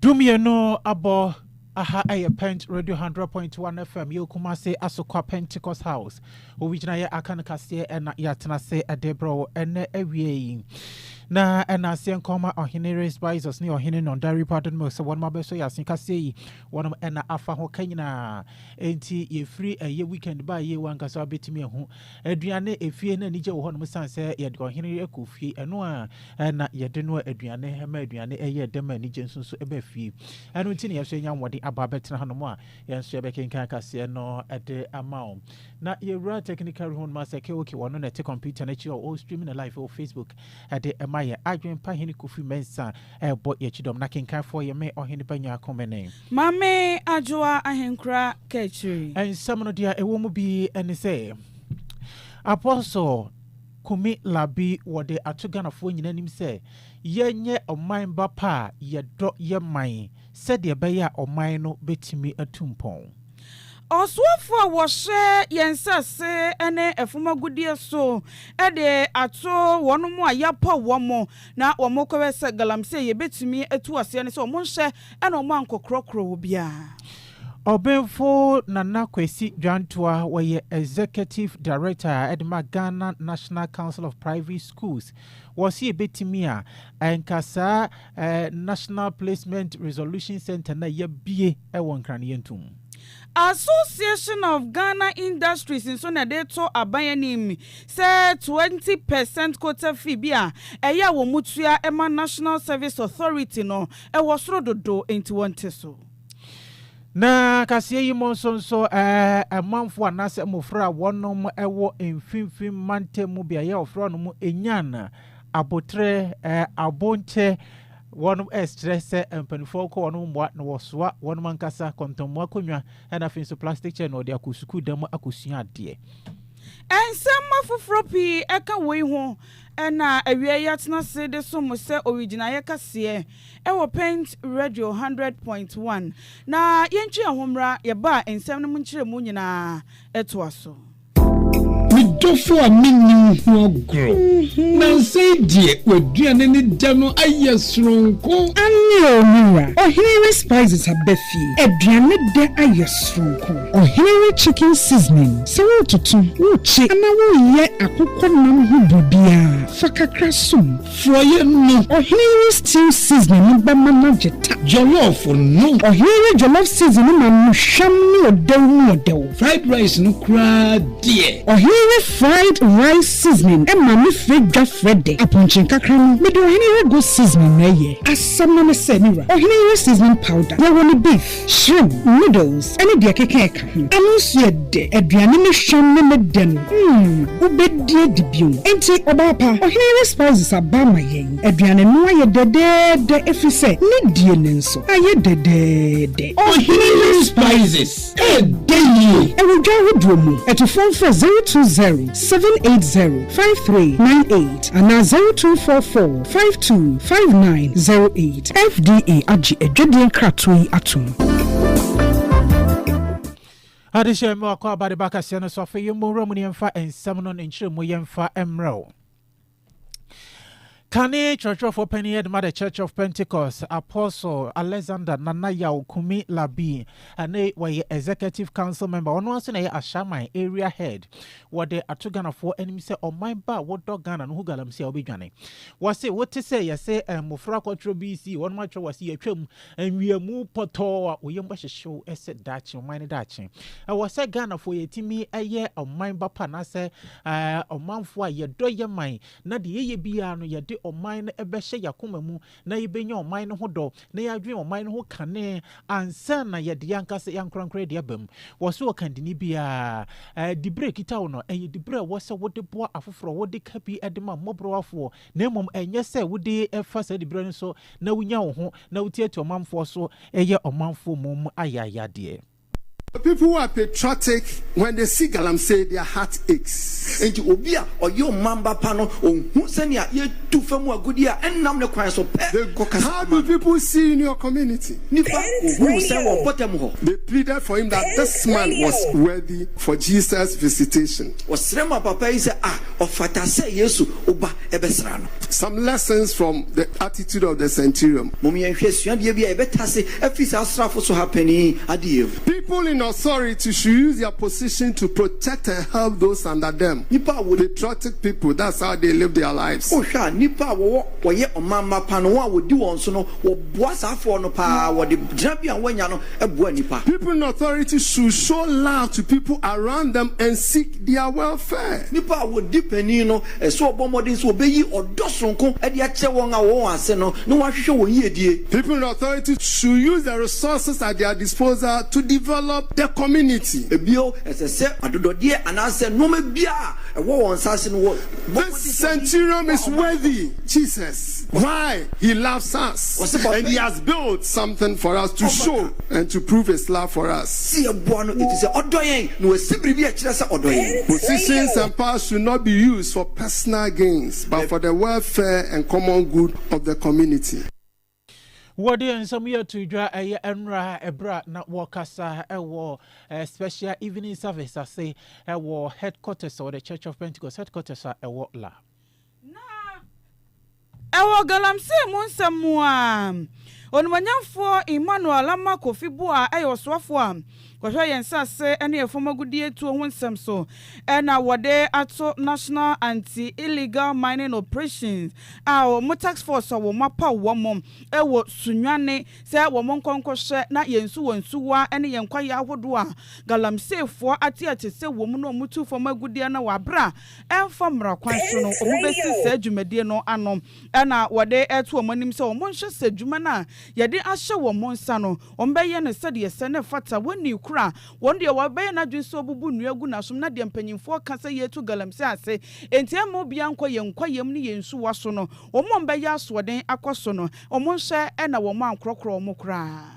Dumienu abɔ aha ɛyɛ pent radio hundred point one fm yɛ okuma se asokwa pentecost house owi gyina yɛ aka no kaseɛ ɛna yɛatena se ɛde brɛ wo ɛnɛ awie yi na ɛna aseɛ nkɔma ɔhene res bisos ne ɔhene no dari pardon mo sɛ wɔnom abɛso yɛ ase kaseɛ yi wɔnom ɛna afa ho ka nyinaa enti yɛfiri ɛyɛ weekend ba yie wankasa wabɛtumi ahu Aduane, efie no anigye wɔ hɔnom esiane sɛ yɛde ɔhene yere kɔ fie, ɛno a na yɛde noa aduane, ɛma aduane yɛ dɛ ma anigye nso nso ba fie. Ɛno nti na yɛn nso yɛnya ahoɔden aba abɛtena hanom a yɛn nso yɛbɛkenkan kaseɛ no de ama wo. Na yɛwura technical room no sɛ Keoke wɔ no na ɛte kɔmputa no akyi a ɔwɔ stream no live wɔ Facebook de ɛma yɛ. Adwempa Hene Kofi Mensah ɛrebɔ yɛn kyidɔm na kenkanfoɔ yɛ me Ɔhene Banya Komene. Mame Adwoa Ahenkura Kaakyire. Nsɛm no deɛ ɛwɔ mu bi ne sɛ, Apostle Kumi Larbi wɔde ato Ghanafoɔ nyinaa anim sɛ yɛnyɛ ɔman ba pa a yɛdɔ yɛ man sɛdeɛ ɛbɛyɛ a ɔman no bɛtumi atu mpɔn. Ɔsoafoɔ a wɔhyɛ yɛn nsase ne ɛfam agudeɛ so de ato wɔnom a yɛapaw wɔn na wɔkɔyɛ sɛ galamsey a yɛbɛtumi atu aseɛ ne sɛ wɔnhyɛ ɛna ɔmo ankɔkorɔkorɔ wɔ biaa. Ɔbenfo Nana Kwesi Dwantoa, wɔyɛ Executive Director de ma Ghana National Council of Private Schools, wɔse ebetumi a, nka saa National Placement Resolution Centre no a yɛabue wɔ Nkran no yɛnto mu. Association of Ghana Industries nso na de reto aban anim sɛ twenty per cent quota fee bi a ɛyɛ a wɔtua ma National Service Authority no, Ɛwɔ soro dodo enti wɔnte so. Na kaseɛ yi mu nso nso ɛɛ manfoɔ anaasɛ mmofra a wɔnom ɛwɔ mfimfini mantam mu beaeɛ a wɔfrɛ hɔ nom Enyan, Aboterɛ, ɛɛ Abonkyɛ wɔnom ɛɛsrɛ sɛ mpaninfoɔ nkɔ wɔnom mmoa na wɔsoa wɔnom ankasa kɔntɔnmu akonnwa ɛna afei nso plastic chair na wɔde akɔ sukuu dan mu akɔsua adeɛ. Nsɛm afoforɔ pii ɛka woi ho Ɛna awiei yɛatena ase de som mo sɛ owigyinaeɛ kɛseɛ wɔ Pent Radio Hundred Point One. Na yɛntwe yɛn ho mmra yɛn ba a nsɛm no mu nkyerɛmu nyinaa toa so. Me dɔfo a menni wo ho agorɔ. Nansa yi deɛ w'aduane ne dɛ no ayɛ soronko. Aane o me wura, ɔhene Respizes aba fie, aduane dɛ ayɛ soronko. Ɔhene wo chicken seasoning sɛ woretoto, worekye anaa woreyɛ akokɔ nam ho biribiara, fa kakra som. Forɔeɛ no. Ɔhene wo stew seasoning no bɛma no agye ta. Jollof no. Ɔhene wo jollof seasoning no ma no hwam ne ɔdɛw mu ɔdɛw. Fried rice no koraa deɛ. Ɔhene wo fried rice seasoning ma no frɛ dwa frɛ dɛ. Apɔnkye nkakra no, mede ɔhene wo goat seasoning na ɛyɛ. Asɛm no ne sɛ, me wura, ɔhene wo seasoning powder, yɛwɔ no beef. Shrimp, noodles ne deɛ ɛkeka ɛka ho. Ɛno nso yɛ dɛ. Aduane no hwam ne ne dɛ no, mm, wobɛdi adi bio. Enti, ɔbaa pa, Ɔhene Yere Spouses aba ama yɛn. Aduane no ayɛ dɛdɛɛdɛ ɛfiri sɛ ne die no nso ayɛ dɛdɛɛdɛ. Ɔhene Yere Spouses, ɛɛdɛ yie! Ɛwɔ dwa ahodoɔ mu. Atufoɔ mfrɛ zero two zero, seven eight zero, five three nine eight anaa zero two four four, five two, five nine zero eight. FDA agye adwadie nkratoɔ yi atom. Adehyɛ mma wakɔ aba de ba kaseɛ no so afei yɛn mmɔ nwura mu ne yɛmfa nsɛm no ne nkyerɛmu yɛmfa mmerɛ wo. Kane twerɛtwerɛfoɔ panin yɛ dema the Church of Pentecost Apostle Alexander Nana Yaw Kumi Labi ɛne wɔyɛ executive council member ɔno nso na ɛyɛ Ashaman area head wɔde ato Ghanafoɔ anim sɛ ɔman ba a wodɔ Ghana no ho galamsey a wobɛdwane Wɔse wote sɛ yɛse mmofra akɔtwerɛ BC wɔnom atwerɛ wɔse yɛatwam nwiamu pɔtɔɔ a oyam bɛhyehyew sɛ daakye ɔman no daakye. Ɛwɔ sɛ Ghanafoɔ yɛtumi yɛ ɔman ba pa anaasɛ ɔmanfoɔ a yɛdɔ yɛ man na deɛ yɛyɛ biara no yɛde ɔman no bɛhyɛ yɛakoma mu na yɛbɛnya ɔman no ho dɔ na yɛadwene ɔman no ho kane ansa na yɛde yɛn ankasa yɛn ankorankora de aba mu. Wɔso ɔkandini biara, diberɛ a ɛkita wo no, ɛyɛ diberɛ a ɛwɔ sɛ wode boa afoforɔ, wode ka bi de ma mmɔborɔwafoɔ, na mmom ɛnyɛ sɛ wode fa saa diberɛ no so na wonya wo ho na wotiatia ɔmanfoɔ so yɛ ɔmanfoɔ mmom ayayadeɛ. People who are patriotic when they see galamsey their heart aches. Enti obi a ɔyɛ ɔmanba pa no, ohu sɛnea yɛtu fa mu agudeɛ a ɛnnam ne kwan so pɛ kɔkasa How do people see you in your community? Nnipa hu wo sɛn wɔ wo mpɔtam hɔ? They pleaded for him that this man was worthy for Jesus' visitation. Wɔsrɛ maa papa yi sɛ, Ah, ɔfata sɛ Yesu wo ba bɛsra no. Some lessons from the attitude of the centurion. Mom yɛnhwɛ suadeɛ bi a yɛbɛtase afiri saa asraafo so ha panin yi adeɛ mu. People in authority should use their position to protect and help those under them, Nnipa a wɔ patriotic people, that's how they live their lives. Wohwɛ a, nnipa a wɔwɔ wɔyɛ ɔmamma pa no, wɔn a wɔdi wɔn so no, wɔboa saa afoɔ no pa ara, wɔde gyinabea a wɔanya no boa nnipa. People in authority should show love to people around them and seek their welfare. Nnipa a wɔdi panin no Ɛsɛ sɛ ɔbɔ mmɔden sɛ obeyi ɔdɔ soronko de akyerɛ wɔn a wɔwɔ wɔn ase no na wahwehwɛ wɔn yiedie. People and authorities should use the resources at their disposal to develop the community. Bio, ɛsɛ sɛ adodɔdeɛ anaasɛ nnoɔma biara a ɛwɔ wɔn nsa ase no wɔbɔ mmɔden sɛ wɔde This hyɛ wɔn centurion a is wɔwɔ no worthy so. Jesus. Why? He loves us Ɔsɛ papa and he yi has built something for us to ɔma show. ka. And to prove his love for us. Se yɛboa no efisɛ ɔdɔ yɛn na wasi biribi a ɛkyerɛ sɛ ɔdɔ yɛn. Position nsɛmpa should not be used for personal gains but for the welfare and common good of the community. Wɔde nsɛm yi ato dwa ɛyɛ nnora ɛberɛ a na wɔkasa ɛwɔ Special Evening Service ase ɛwɔ Headquarters ɛwɔ The Church of Pentecost Headquarters a ɛwɔ La. Na ɛwɔ galamsey mu nsɛm mu a, Onimuonyamfoɔ Emmanuel Ammah Kofi Buah yɛ ɔsoafoɔ a ɔhwɛ yɛn nsase ne yɛn fam agudeɛ tuo ho nsɛm so na wɔde ato National Anti Illegal Mining Operations a wɔn task force a wɔn apaw wɔn wɔ Sunyani sɛ wɔn nkɔ nkɔhwɛ na yɛn nsuwa nsuwa ne yɛn kwaeɛ ahodoɔ a galamseyfoɔ ateɛte sɛ wɔn na wɔtu fam agudeɛ no wɔ abere a ɛmfa mmara kwan so no, wɔbɛsi saa dwumadie no ano na wɔde reto wɔn anim sɛ wɔnhwɛ sɛ adwuma no a yɛde ahyɛ wɔn nsa no, wɔbɛyɛ no sɛdeɛ ɛsɛ na ɛfata. Wɔnnii koro a wɔn deɛ wɔabɛyɛ no adwene sɛ wɔbubu nnua agu n'asom na deɛ mpanimfoɔ ka sɛ yɛretu galamsey ase enti ɛremma obiara nkɔ yɛn kwaeɛm ne yɛn nsuwa so no, wɔn a wɔbɛyɛ asoɔden akɔ so no, wɔnhwɛ na wɔankorɔkorɔ wɔn koraa.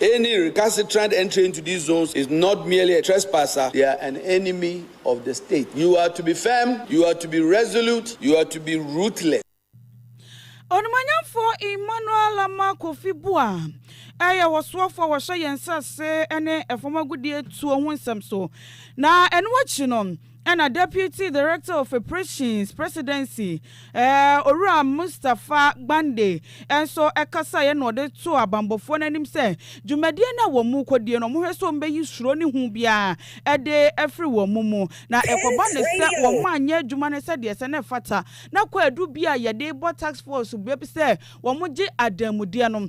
Any recalcitrant entry into these zones is not merely a trespasser, they are an enemy of the state. You are to be firm, you are to be resolute, you are to be ruthless. Onimuonyamfoɔ Emmanuel Lamah Kofi Buah yɛ ɔsoɔfoɔ a ɔhyɛ yɛn nsase ne fam agudeɛtuo ho nsɛm so, na ɛno akyi no, Ɛna Deputy Director of Operations Presidency, Owura Mustapha Gbande nso kasaeɛ na ɔde too abanbɔfoɔ no anim sɛ dwumadie no a wɔn rekɔdie no wɔhwɛ sɛ wɔbɛyi suro ne hu biara de afiri wɔn mu na ɛkɔba no sɛ wɔn anyɛ adwuma no sɛdeɛ ɛsɛ na ɛfata na kɔ adu bi a yɛde bɔ task force bɛ sɛ wɔgye adanmudeɛ no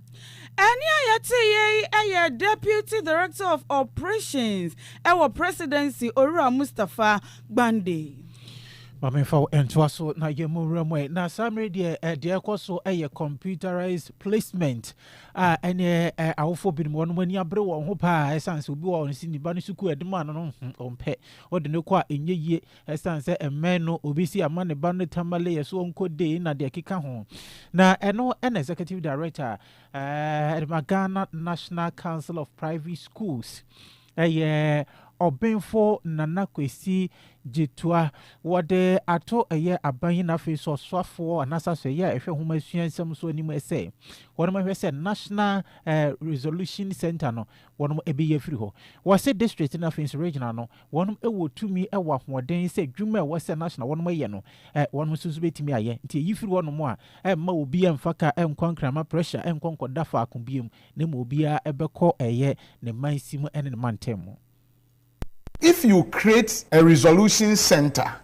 Ɛnne a yɛteeɛ yi yɛ Deputy Director of Operations wɔ Presidency, Owura Mustapha Gbande. Ma memfa wo ntoa so na yɛmmɔ nwura mu ɛ. Na saa mmerɛ deɛ deɛ ɛrekɔ so yɛ computerized placement a ɛneɛ awofoɔ binom wɔn ani abere wɔn ho paa ɛsiane sɛ obi wɔ wɔn si ne ba no sukuu ɛde maa no no ɔmpɛ ɔde no kɔ a ɛnyɛ yie Ɛsiane sɛ mmɛn no obi si ama ne ba no Tamale yɛ so ɔnkɔ dei na deɛ ɛkeka ho. Na ɛno na Executive Director a ɛde ma Ghana National Council of Private Schools ɛyɛ Ɔbenfo Nana Kwesi Gyetoa wɔde ato ɛyɛ aban yi na afei nso ɔsoafoɔ anaasɛ asɔɛyɛ a ɛhwɛ nwoma sua nsɛm so anim ɛsɛ wɔnom ɛhwɛ sɛ National eh, Resolution Center no wɔnom ɛbɛyi afiri hɔ. Wɔse District na afei nso Regional no Wɔnom wɔ tumi wɔ ahoɔden sɛ adwuma a ɛwɔ sɛ na na wɔnom yɛ no wɔnom nso nso bɛtumi ayɛ. Nti ɛyi firi wɔnom a ɛmma obi ɛmfa ka ɛnkɔ nkrama pressure ɛnkɔ nkɔda faako biom na mmom obiara ɛbɛkɔ ɛyɛ ne mansi mu ɛne ne mantam mu. If you create a resolution centre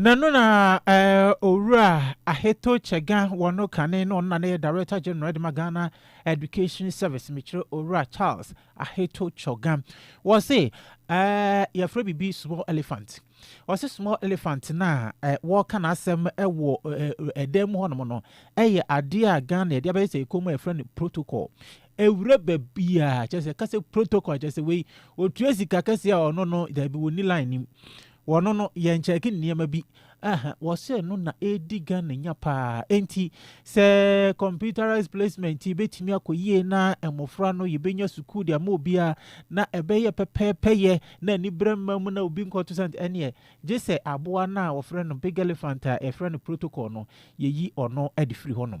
Na ɛno na eh, Owura Aheto Kyɛga wɔ no kane na ɔno na ne yɛ Director General de ma Ghana Education Service, mekyerɛ Owura Charles Aheto Kyɔga. Wɔse eh, yɛfrɛ biribi small elephant. Wɔse small elephant no a eh, wɔka n'asɛm wɔ eh, ɛdan mu hɔnom no, ɛyɛ adeɛ a Ghana yɛde abɛyɛ sɛ ɛkɔm a yɛfrɛ no protocol. Ɛwura baabiaa, kyerɛ sɛ ɛka sɛ protocol, kyerɛ sɛ wei, ɔtua sika kɛseɛ a ɔno no, daabi, wɔnni line nim. Wɔno no yɛn kyɛɛke nneɛma bi. Ɛhɛ, wɔsɛ ɛno na ɛredi Ghana nya paa. Enti, sɛ computerized placement yi bɛtumi akɔ yie na mmofra no yɛbɛnya sukuu de ama obiara na ɛbɛyɛ pɛpɛɛpɛyɛ na aniberɛ mma mu na obi nkɔto santene ɛneɛ, gye sɛ aboa no a wɔfrɛ no big elephant a yɛfrɛ no protocol no, yɛyi ɔno de firi hɔnom.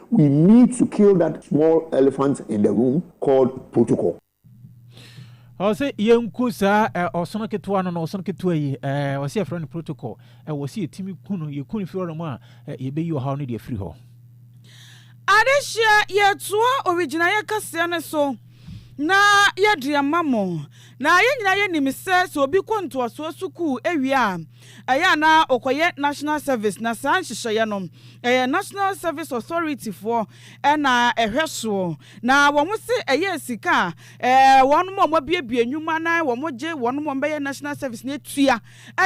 We need to kill that small elephant in the room called protocol. Ɔsɛ yɛnku saa eh, ɔsono ketewa no no ɔsono ketewa yi eh, ɔsɛ yɛfrɛ no protocol eh, ɔsɛ yɛtumi ku no yɛku no firi hɔ mu a eh, yɛbɛyi ɔhaw no de afiri hɔ. Adesua yɛtoa owigyinaeɛ kɛseɛ no so na yɛde ama mo. Na yɛn nyinaa yɛnim sɛ sɛ obi kɔ ntoasoɔ sukuu wie a, Ɛyɛ a na ɔkɔyɛ National Service na saa nhyehyɛeɛ no ɛyɛ National Service Authority foɔ na ɛhwɛ soɔ. Na wɔn se ɛyɛɛ sika a wɔn a wɔabuebue nnwuma na wɔgye wɔn a wɔbɛyɛ National Service no atua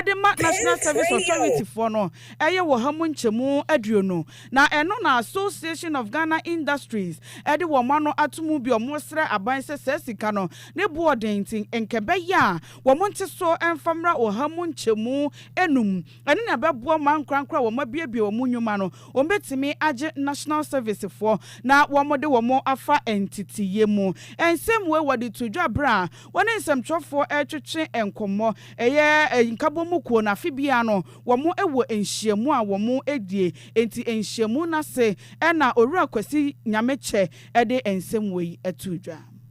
de ma National Service Authority foɔ no yɛ wɔ ha mu nkyɛmu aduonu. Na ɛno na Association of Ghana Industries de wɔn ano ato mu bi, wɔsrɛ aban sɛ saa sika no ne boɔ den nti nkɛbɛyɛ a wɔn ntesoɔ mfa mmra ɔha mu nkyɛmu nnum. Ɛno na ɛbɛboa wɔn ankorankoro a wɔabuebue wɔn nnwuma no, wɔbɛtumi agye National Servicefoɔ na wɔde wɔn afa nteteeɛ mu. Nsɛm wei wɔde too dwa berɛ a wɔne nsɛmtwerɛfoɔ retwetwe nkɔmmɔ. Ɛyɛ Nkabɔmu kuo no, afe biara no wɔwɔ nhyiamu a wɔdie, enti nhyiamu no ase na Owura Kwasi Nyamekyɛ de nsɛm wei too dwa.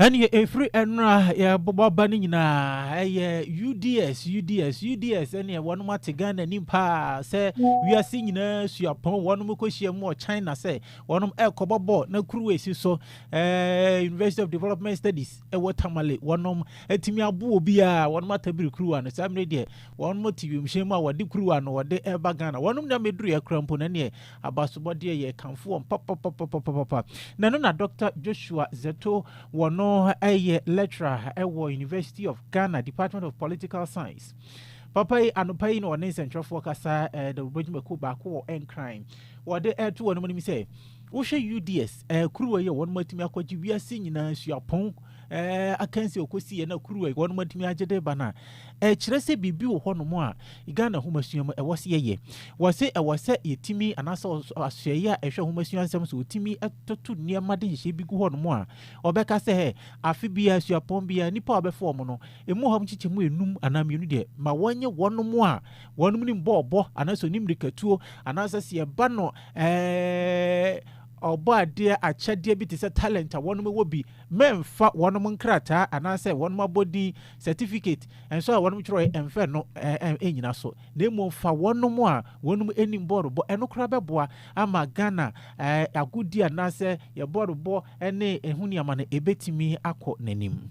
Ɛnneɛ ɛfiri ɛno a yɛbɔ aba no nyinaa ɛyɛ uds uds uds ɛnneɛ wɔnom ate ghana anim paa sɛ wiase nyinaa suapɔn wɔnom kɔhyia mu wɔ china sɛ wɔnom ɛrekɔbɔ bɔɔl na kuruwa ɛsi so ɛɛ university of development studies ɛwɔ tamale wɔnom atumi abo obi a wɔnom atabiri kuruwa no saa mmerɛ deɛ wɔnom te wiemhyɛn mu a wɔde kuruwa no wɔde ɛreba ghana wɔnom na mɛduru yɛ kora mpo na ɛnneɛ Abasobɔ deɛ yɛ kamfo wɔn papapapapapa. Na ɛno na Dɔkta Joshua Zetto wɔ no yɛ lecturer wɔ University of Ghana Department of Political Science. Papa yi anopa yi na ɔne nsɛntwerɛfoɔ kasa ɛda dwumadwumakuo baako wɔ Nkran. Wɔde ɛto wɔn anim sɛ wohwɛ UDS ɛkuruwa yi a wɔn atumi akɔgye wiase nyinaa suapɔn eh, akansi ɔkɔsi yɛ na kuruwa wɔn atumi agye de ba no a ɛkyerɛ sɛ biribi wɔ hɔnom a ghana homasua mu ɛwɔ sɛ yɛyɛ wɔ se ɛwɔ sɛ yɛtumi anaasɛ asoɛeɛ a ɛhwɛ homasua nsɛm so wɔtumi toto nneɛma de nhyehyɛ bi gu hɔnom a ɔbɛka sɛ hɛ afe biara asuapɔn biara nnipa a wɔbɛfa wɔn no ɛmu hɔ nkyekyɛ mu enum anaa mmienu deɛ ma wɔnyɛ wɔnom a wɔnom ne mbɔɔbɔ anaasɛ ɔne mmirikatuo anaasɛ sɛ yɛba no ɛɛ ɔbɔ adeɛ akyɛdeɛ bi te sɛ talent a wɔnom wɔ bi Memmfa wɔnom nkrataa anaasɛ wɔnom abɔdin, certificate, nso a wɔnom twerɛɛ ɛmfa ɛno nnyina so, na mmom fa wɔnom a wɔnom anim bɔɔlo bɔ, ɛno koraa bɛboa ama Ghana agodie anaasɛ yɛn bɔɔlo bɔ ne ɛho nneɛma no ɛbɛtumi akɔ n'anim.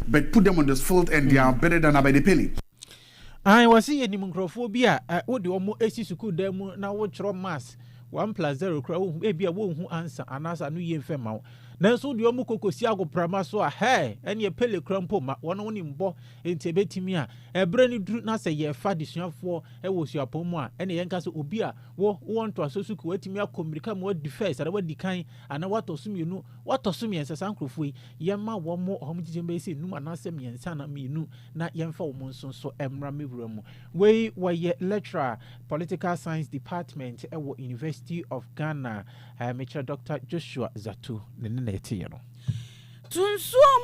But put them on the field and they are better than Abedepele. Aane wɔse yɛnim nkurɔfoɔ bi a wode wɔn si sukuu dan mu na wotwerɛ maths one plus zero koraa wohu ebia wɔnhu answer anaasɛ ano yie mfɛ ma wo nanso wode wɔn kɔkɔsi agoprama so a hɛɛ ɛneɛ pele koraa mpo ma wɔn wo ne mbɔ enti ɛbɛtumi a ɛberɛ no duru na sɛ yɛfa desuafoɔ wɔ suapɔn mu a ɛne yɛnka sɛ obi a wo wɔ ntoaso sukuu watumi akɔ mmirika ma wadi fɛs anaa wadi kan anaa watɔ so mmienu watɔ so mmiɛnsa saa nkurɔfoɔ yi Yɛmma wɔn mmɔ wɔn gyidie bɛyɛ sɛ nnum anaasɛ mmiɛnsa anaa mmienu na yɛmfa wɔn nso nso mmra me wura mu. Wei wɔyɛ lecturer political science department wɔ University of Ghana eh, mekyerɛ Doctor Joshua Zatu ne ne na ɛteeɛ no. Tunsuom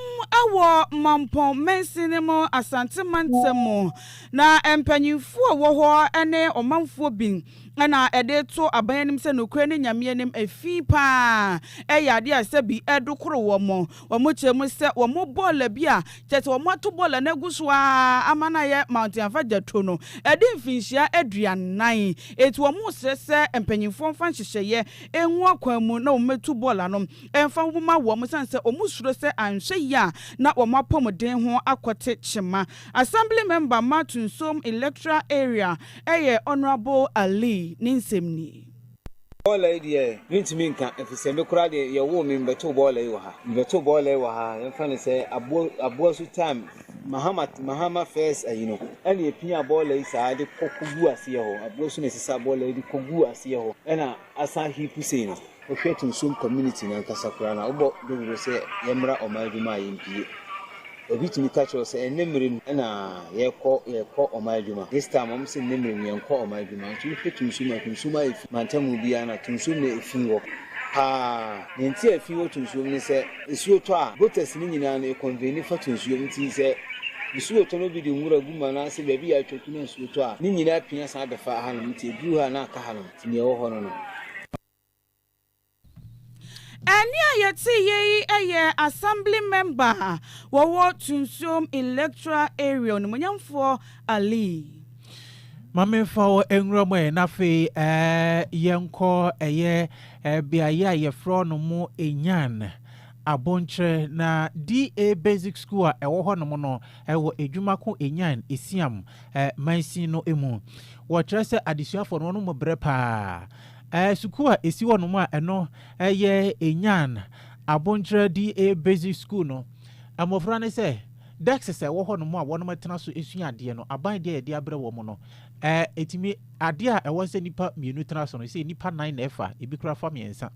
wɔ Mampong mansini mu, Asante mantam mu, na mpanyinfoɔ wɔ hɔ ne ɔmanfoɔ bi. na ɛde to aban anim sɛ nokorɛ ne Nyame anim ɛfi paa yɛ adeɛ a sɛbi ɛdokoro wɔn. Wɔn kyerɛ mu sɛ wɔn bɔɔla bi a kyerɛ sɛ wɔn ato bɔɔla no agu so ara ama no ayɛ Mountain Afadjato no adi mfinhyia aduanan. Enti wɔn resrɛ sɛ mpanyinfoɔ mfa nhyehyɛeɛ ngu akwan mu na wɔn mmɛtu bɔɔla no mfa nwoma wɔn, ɛsiane sɛ wɔn suro sɛ anhwɛ yie a na wɔn apɔmuden ho akɔte kyema. Assembly Member ma Tunsom Electoral Area ɛyɛ Honourable Ali ne nsɛm nie. Bɔɔla yi deɛ mentumi nka ɛfisɛ me koraa deɛ yɛwoo me mebɛtoo bɔɔla yi wɔ ha. Mebɛtoo bɔɔla yi wɔ ha yɛmfa no sɛ aboɔ aboasu time Mahama Mahama first ayi no ɛna ɛpia bɔɔla yi saa de kɔ kɔgu aseɛ hɔ aboasu na ɛsesa bɔɔla yi de kɔgu aseɛ hɔ ɛna Asa Hipu sei no, wohwɛ Tunsom community no ankasa koraa no a, wobɔ dawuro sɛ yɛmmra ɔman adwuma a yɛmpie. Obi tumi ka kyerɛ wo sɛ ɛnnɛ mmerɛ mu na yɛkɔ yɛkɔ ɔman adwuma. This time wɔn sɛ nnɛ mmerɛ mu yɛnkɔ ɔman adwuma. Nti wohwɛ Tunsom a, Tunsom ayɛ fi. Mantamu biara no a, Tunsom na ɛfi hɔ paa. Deɛ nti a ɛfi hɔ Tunsom ne sɛ, nsuo tɔ a, gutters no nyinaa no ɛconvene fa Tunsom. Nti sɛ nsuo tɔ na obi de nwura gu mu anaasɛ baabi a atwa ku na nsuo tɔ a, ne nyinaa pia san bɛfa hanom. Nti ɛduru ha a na aka hanom. Nea ɛwɔ hɔ no no. Ɛnne a yɛteeɛ yi yɛ Assembly Member a ɔwɔ Tunsuom Electoral Area, Onimuonyamfoɔ Ali. Ma memfa wo nwura mu ɛ na afei ɛɛ yɛnkɔ ɛyɛ ɛɛ beaeɛ a yɛfrɛ no mo Enyan, Abonkyerɛ na DA Basic School a ɛwɔ hɔnom no. wɔ edwuma ko enyan esiam mansin no mu. Wɔkyerɛ sɛ adesuafo no wɔnom brɛ paa. Sukuu a esi hɔ nom a ɛno yɛ Enyan Abonkyerɛdi Basic School no, mmofra no sɛ desks a ɛwɔ hɔ nom a wɔnom tena so sua adeɛ no, aban deɛ a yɛde abrɛ wɔn no, etumi, adeɛ a ɛwɔ sɛ nnipa mmienu tena so no, sɛ nnipa nan na ɛfa, ebi koraa fa mmiɛnsa.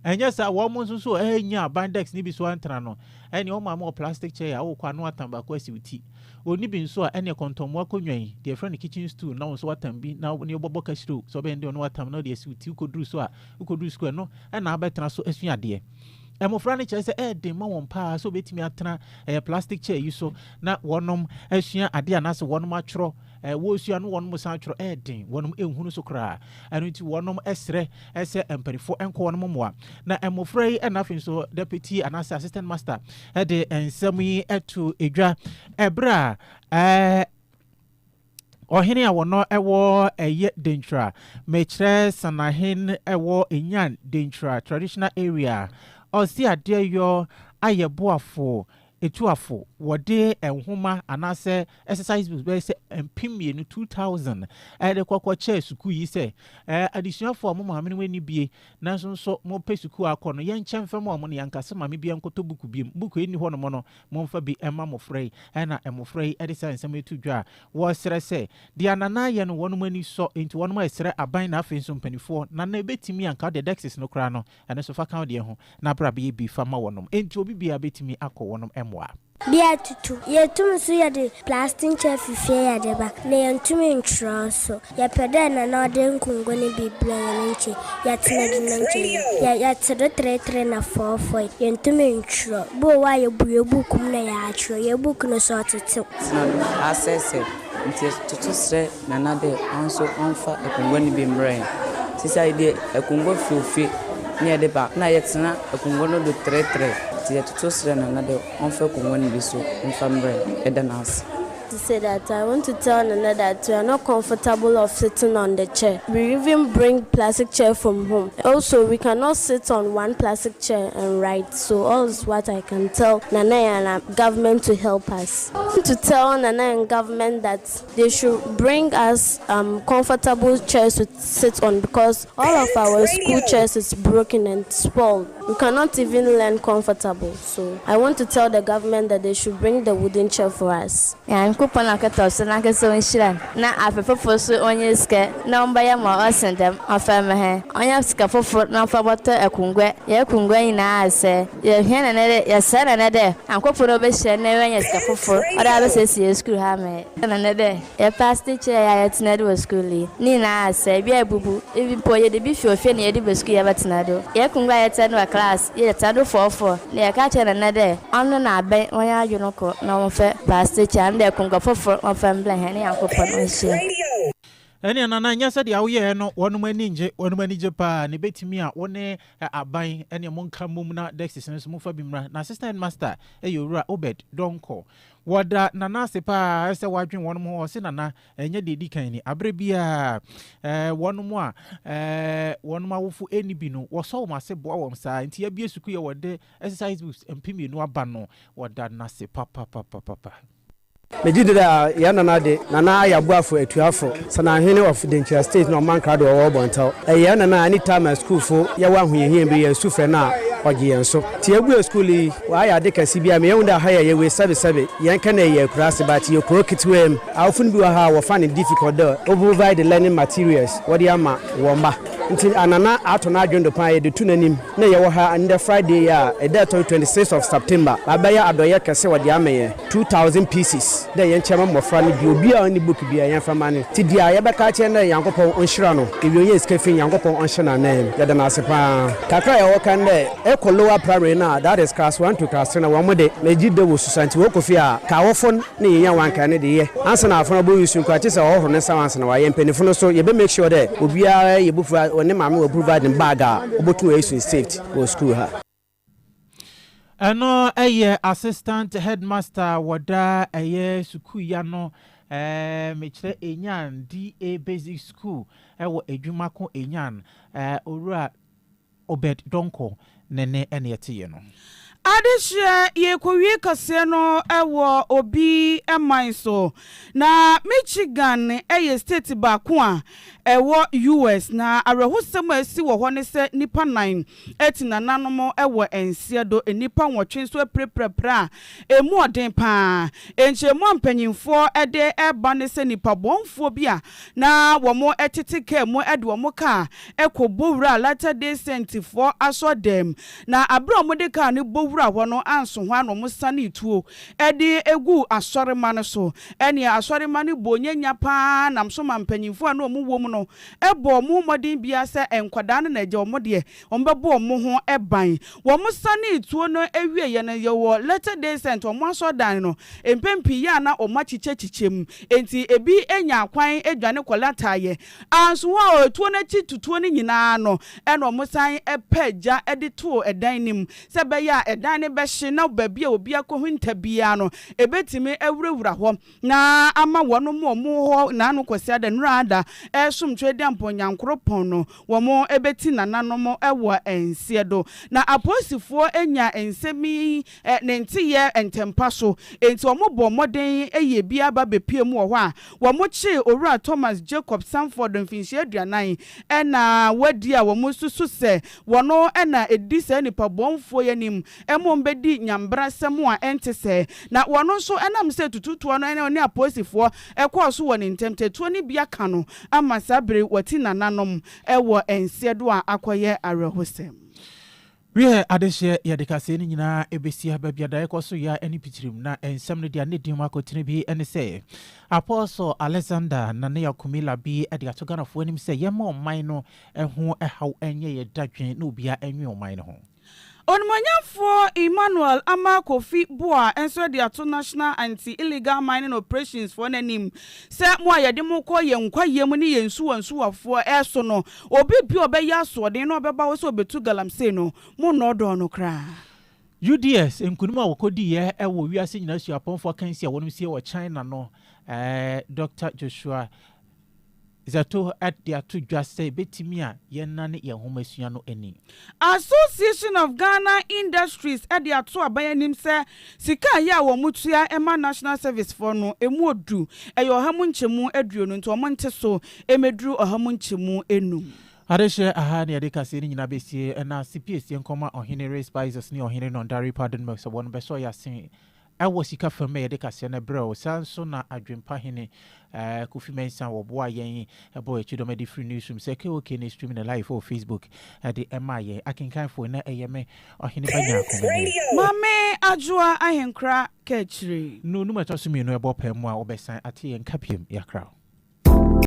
Ɛnyɛ saa, wɔn nso nso ɛnya bandex ne bi so antena no, ɛne wɔn maame wɔ plastic chair a wokɔ ano atam baako asi wo ti. Ɔni bi nso a, ɛne kɔntɔnmoa konwa yi, deɛ ɛfrɛ no kitchen stool na wo nso watam bi na ne wobɔbɔ kasiro sɛ ɔbɛn deɛ ɔne watam na ɔde asi wo ti wokɔduru so a, wokɔduru sukuu ɛno na abɛtena so asua adeɛ. Mmofra no kyerɛ sɛ ɛyɛ den ma wɔn pa ara sɛ wɔbɛtumi atena ɛyɛ plastic chair yi so na wɔnom asua adeɛ anaasɛ wɔnom atwerɛ eh, wɔresua no wɔnom san twerɛ eh, den, wɔnom nhunu so koraa. Ɛno nti wɔnom srɛ eh, sɛ mpanimfoɔ nkɔ wɔnom mmoa. Na mmɔfra yi na afei nso deputy anaasɛ assistant master eh, de nsɛm yi to edwa ɛberɛ a eh, ɔhene a wɔn ɛwɔ ɛyɛ denkyira mekyerɛ sanahen ɛwɔ enyan denkyira traditional area ɔsi adeɛ yɔ ayɛ boafo Atuafo, wɔde nhoma anaasɛ exercise books bɛyɛ sɛ mpem mmienu, 2,000, de kɔkɔ kyɛɛ sukuu yi sɛ, Ɛɛ, adesuafo a mo maame no ani bue, nanso nso mopɛ sukuu akɔ no, yɛnkyɛ mfa ma wɔn na yɛanka sɛ maame biara nkɔtɔ buku biom. Buku a enni hɔnom no, momfa bi mma mmofra yi. Ɛnna mmofra yi de saa nsɛm yi to dwa a wɔresrɛ sɛ, Deɛ Nana yɛ no, wɔn ani sɔ, enti wɔn resrɛ aban na afei nso mpanimfoɔ, Nana, ebetumi anka wode dexes no koraa no, Ɛno nso, fa ka wo deɛ ho, na bra bɛyɛ bi fa ma wɔnom. Enti obi biara bɛtumi akɔ wɔnom mmoa. Bi atutu. Yɛtum nso yɛde plastic chair fi fie yɛde ba, na yɛntum ntwerɛ so. Yɛpɛ dɛ Nana ɔde nkongo ne bi brɛ yɛn nti yɛtena bi na nkyɛ yie. Yɛ yɛte do treetree na fɔɔfɔe. Yɛntum ntwerɛ. Bi wɔ hɔ a yɛbu yɛn book mu na yɛatwerɛ. Yɛn book no so ɔtetew. Sena do, asɛsɛ. Ntsi toto serɛ Nana dɛ ɔnso ɔmfa akongua no bi mbrɛ hɛn. Sesei deɛ akongua fi ofie na yɛde ba na yɛtsena akongua no do tserɛtserɛ. Ntsi yɛtoto serɛ Nana dɛ ɔmfa akongua no bi so mfa mbrɛ hɛn. Yɛda no ase. He said that I want to tell Nana that we are not comfortable of sitting on the chair. We even bring plastic chair from home. Also, we cannot sit on one plastic chair and write. So all is what I can tell Nana and government to help us. Come to tell Nana and government that they should bring us um comfortable chairs to sit on because all of our school chairs is broken and spoiled we cannot even learn comfortable so I want to tell the government that they should bring the wooden chair for us. Nyankopɔn akɔtɔ so nankasa onhyira no na afe fofor so ɔnnyɛ sika na ɔmbɛyɛ ma ɔsen dɛm ɔmfa mma hɛn ɔnya sika fofor na ɔmfa bɔtɔ akongua hɛn akongua nyinaa asɛɛ Yɛhwɛ no nnɛ dɛ, yɛserɛ no nnɛ dɛ ankoafo no wobehyia na woenya sika fofor ɔdze abesiesie skuul ha ama hɛn. Yɛhwɛ no nnɛ dɛ yɛpɛ asetsena kyɛe a yɛtsena do wɔ skuul yi, ne nyina asɛɛ, bi ebubu, bi mpo yɛde bi fi ofie na yɛde ba skuul yɛbɛtsena do. Hɛn ekongua a yɛtsena do wɔ klass, yɛtsena do fɔɔfɔɔ, na yɛka kyerɛ hɛn nnɛ dɛ ɔno na abɛn hɔn adwen kɔ na wɔmfa pastor chair no dɛ ekongua fofor wɔmfa mbra hɛn Nyankopɔn nhyira. Ɛnneɛ Nana, nyɛ sɛdeɛ woyɛeɛ no, wɔnom ani ngye, wɔnom ani gye paa, na ɛbɛtumi a wo ne Ɛ aban ɛneɛ mo nka mmom na Dexys no nso mo fa bi mmra. Na Sister Headmaster ɛyɛ Owura Obed Donkor. Wɔ da Nana ase paa sɛ wadwen wɔnom ho. Ɔse Nana ɛnyɛ deɛ ɛdi kan ni. Aberɛ biaa ɛ wɔnom a ɛ wɔnom awofo ɛnni bi no wɔsɔ wɔn ase boa wɔn saa. Nti yɛabue sukuu yi a wɔde Exercise Books mpem mmienu aba no. Wɔda no ase papapapapapa. Megye di dɛ yɛn nana de, Nana Ayah Boafo Atuafo, Sananhene of Denkyira State na Ɔman Krado a ɔwɔ Bɔntɛw. Ɛyɛ yɛn nana a ɛne Tama sukuufo yɛwɔ ahohiahia bi, yɛn sufrɛ no a ɔgye yɛn so. Te yɛbuee sukuu yi, wayɛ ade kɛse bi a meɛ hu dɛ aha yɛ yɛ wei sɛbesɛbe yɛn kɛ nɛ yɛ akuraase but yɛ kuro ketewaa mu. Awofo no bi wɔ ha a wɔfa no difficult dɛ wɔbɛprovide learning materials wɔde ama wɔn mma. Nti a nana ato n'adwene do paa yɛde to n'anim. Na yɛwɔ ha ndɛ Friday yi a ɛda ɛtɔ do twenty six of September, bɛabɛyɛ adɔyɛ kɛse wɔdze ama hɛn, two thousand pieces, dɛ yɛnkyɛ mma mbofra no bi, obi a ɔnni book biara yɛmfa mma no, ntsi dza yɛbɛka akyerɛ no dɛ Nyankopɔn ɔnhyira no, ewia onya sika fi, Nyankopɔn ɔnhyɛ no ananmu, yɛda no ase paa. Kakra a yɛwɔ ka no dɛ ekɔ lower primary no a, that is class one to class three no, hɔn de, megye dɛ wosusua ntsi wɔkɔ fie a, kaawofo no, na yenya wɔn ankaa no de yɛ ansa na afɔn abɔ nsu nko a kyesɛ ɔhɔhoro ne nsa wɔn ansa na wayɛ mpanyinfo no so yɛbɛ make sure dɛ obiara yɛ bofua ɔne maame wɔ provide no bag a ɔbɔtum ayɛ su safety wɔ school ha. Ɛno yɛ Assistant Headmaster wɔ daa ɛyɛ sukuu ya no ɛɛ mekyerɛ Enyan DA Basic School ɛwɔ Adwumako Enyan ɛɛ Owura Obed Donkor ne nne ne ɛteeɛ no. Adehyeɛ yɛrekɔwie kaseɛ no wɔ Obi man so. Na Michigan yɛ state baako a ɛwɔ US. Na awerɛhosɛm a asi wɔ hɔ ne sɛ nnipa nnan atu nananom wɔ nseɛ do. Nnipa nwɔtwe nso apirapira pira a ɛmu ɔden pa ara. Nkyerɛmu a mpanyimfoɔ de reba ne sɛ nipabɔnfoɔ bi a na wɔtete kaa mu de wɔn kaa kɔ Bowura Latter Day Saintfoɔ asɔrdan mu, na berɛ a wɔde kaa no bowuraa hɔ no anso hɔ ara na wɔsanee tuo de guu asɔremma no so. Ɛnneɛ asɔremma no bɔɔ nyanya pa ara nam so maa mpanimfoɔ a na wɔwɔ mu no bɔɔ wɔn mmɔden biara sɛ nkwadaa no na agya wɔn deɛ, Wɔbɛbɔ wɔn ho ban. Wɔsanee tuo no wieeɛ no, yɛwɔ Latter-day Saint, wɔn asɔrdan no, mpɛn pii yɛ a na wɔakyekyɛkyekyɛ mu. Enti ebi nyaa kwan dwane kɔlataeɛ. Anso hɔ a tuo no akyi tutuo no nyinaa no, ɛnna wɔsan paa gya de too dan no mu sɛ ɛbɛyɛ a dan no bɛhye na baabi a obi akɔhinta biara no, ɛbɛtumi awurawura hɔ. Na ama wɔnom a wɔn wɔ hɔ nnaano Kwasiada Nuraada ɛresom Twedeampɔn Nyankoropɔn no, wɔn ɛbɛti nananom wɔ nseɛ do. Na apolisifoɔ nya nsɛm yi ne nteyɛ ntɛmpa so, enti wɔn bɔɔ mmɔden yɛ bi ara ba bɛpue mu wɔ hɔ a, wɔn kyee Owura Thomas Jacob Sanford mfinhyia aduanan ɛna wadi a wɔn susu sɛ wɔn ɛna ɛdi saa nipabɔnfoɔ yi anim mmom bɛdi nyambrasɛm a ɛnte sɛɛ, na wɔn nso ɛnam sɛ tututoɔ no ne ɔne apolisifoɔ kɔɔ so wɔ ne ntɛm tatuo no bi aka no ama saa bere wɔati nananom wɔ nseɛ do a akɔyɛ awerɛhosɛm. Wiɛ, adehyeɛ yɛ adekasɛɛ no nyinaa ɛbɛsia, baabi a daeɛ kɔ so yea ɛne pitrim, na nsɛm no deɛ ne din mu akotene bi ne sɛ, Apostle Alexander Nanea Kumila bi de ato Ghanafoɔ anim sɛ yɛmma ɔman no ho ɛhaw nyɛ yɛ dadwen na obiara nwe ɔman no ho. Onimonyamfoɔ Emmanuel Amarh Kofi Buah nso de ato National Anti Illegal Mining Operations foɔ no anim sɛ mo a yɛde mo kɔ yɛn nkwayɛ mu ne yɛn nsuwa nsuwafoɔ so no, obi biara a ɔbɛyɛ asoɔden na ɔbɛba hɔ sɛ ɔbɛtu galamsey no, monnɔɔdɔɔ no koraa. UDS nkunim a wɔkɔdiiɛ wɔ wiase nyinaa suapɔnfoɔ akansi a wɔnom sie wɔ China no, Dɔkta Joshua. Zato de ato dwa sɛ ebetumi a yɛnnane yɛn nhomasua no ani. Association of Ghana Industries de ato aban anim sɛ sika a ɛyɛ a wɔtua ma National Service foɔ no, ɛmu ɔdu, ɛyɛ ɔha mu nkyɛmu aduonu nti wɔnte so mmɛduru ɔha mu nkyɛmu nnum. Adehyeɛ aha na yɛde kaseɛ no nyinaa bɛsie, ɛna sipiesie nkɔma Ɔhene Rey Spices ne Ɔhene Nondari Pardonmix a wɔn bɛsɔ yɛn ase Wɔ sika fam na yɛde kaseɛ no brɛ wo. Saa nso na Adwempa hene Kofi Mensah wɔboaa yɛn bɔɔ yɛn kyidɔm de firi Newsroom sɛ KOK ne streaming no live wɔ Facebook de maa yɛn. Akenkanfoɔ, na ɛyɛ me, Ɔhene Ba Nyaakomeneɛ. Mame Adwoa Ahenkora Kaakyire. No num a ɛtɔ so mmienu ɛbɔ paa mu a wobɛsan ate yɛn nka biom. Yɛakra wo.